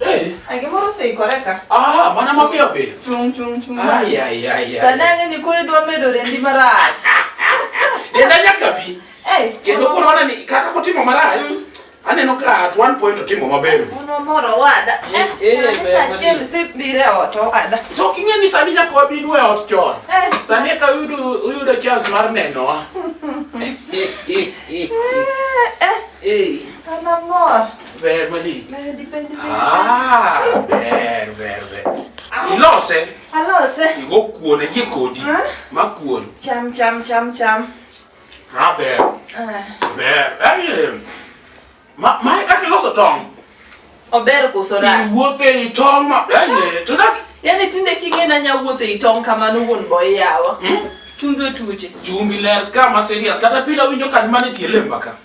Eh. Angimoro seikoreka. Ah, mana mapiyo piyo. Chung chung chung. Ai ai ai. Sanange ni kore dwa medo rendi marach. Denda nyaka bi. Eh. Kendo koro wana ni kata kotimo marach. Mm. Aneno ka at one point otimo maber. Uno moro wada. Eh, eh, eh sa chiel si bire ot wada. To kinge ni sani nyaka wabi nwe ot chon. Eh. Sani ka uyudo uyudo chance mar nenowa. Eh. Eh. Eh. Ana mor. Ber maling. Bendi, bendi, bendi. Ah, ber, ber, ber. Ilose, Alose. igo kuon ayie kodi. Ha? Ma kuon. Cham, cham, cham, cham. Ma ber, Ah, ber. Ai, ma, ma kaka iloso tong'. Ober koso ra. Iwuotho ei tong' ma, ai, to dak Yaani tinde king'e na nyawuotho ei tong' kamano wuon boy yawa. Chumbi otuche. chumbi ler kama serious. Kata pila winjo kan mane tie lemba ka.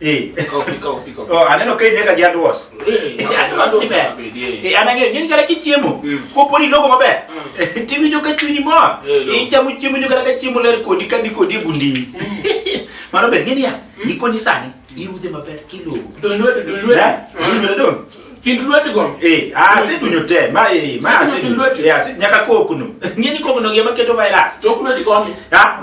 Eh. Oh, aneno ka ineka gi andwas. Eh, eh, anang'eyo nyini kata kichiemo, mm. kopo ni logo maber, mm. tiwinjo ka chunyi mor. Eh, Ichamo chiemo nyo kata ka chiemo ler kodi kadhi kodi e bundini. Mm. Mano ber, ng'e niya, gikoni sani, irudhe maber kilogo. Don lwet, don lwet. Don lwet, don. Kind lwet go. Eh, ah, si dunyo te, ma eh, ma si dunyo. Eh, si nyaka kokno. Ng'e ni kokno gi ema keto virus. Tok lwet go. Ha?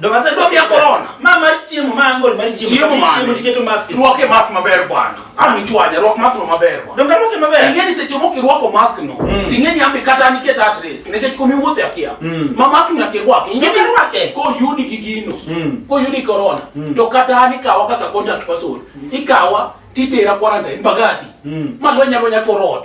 Dok ase dok ya corona. Ma mar chiemo ma angol mar chiemo. Chiemo ma chiemo tiketo mask. Ruoke mask maber bwana. Ami chwaja ruok mask maber bwana. Donga ruoke maber. Ingeni seche moko iruoko mask no. Mm. Tingeni ambe kata ni ket at risk. Nikech komi wuothe akia. Mm. Ma mask na ke ruoke. Ingeni ruoke. Ko yudi gi gino. Mm. Ko yudi corona. To kata ni kawa kaka contact person. Ikawa titera quarantine bagati. Ma lwenya lwenya korot.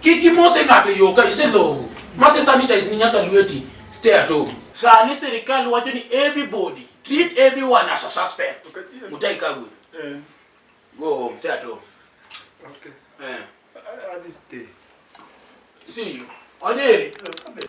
Kik imose ng'ato yo ka iselongo. Mase sanitize ni nyaka lweti. Stay at home. Sani sirikal wacho ni everybody treat everyone as a suspect. Mutai Kagwe. Eh. Go home, stay at home. Okay. Eh. I, I, I stay. See you. Onyeri. Okay.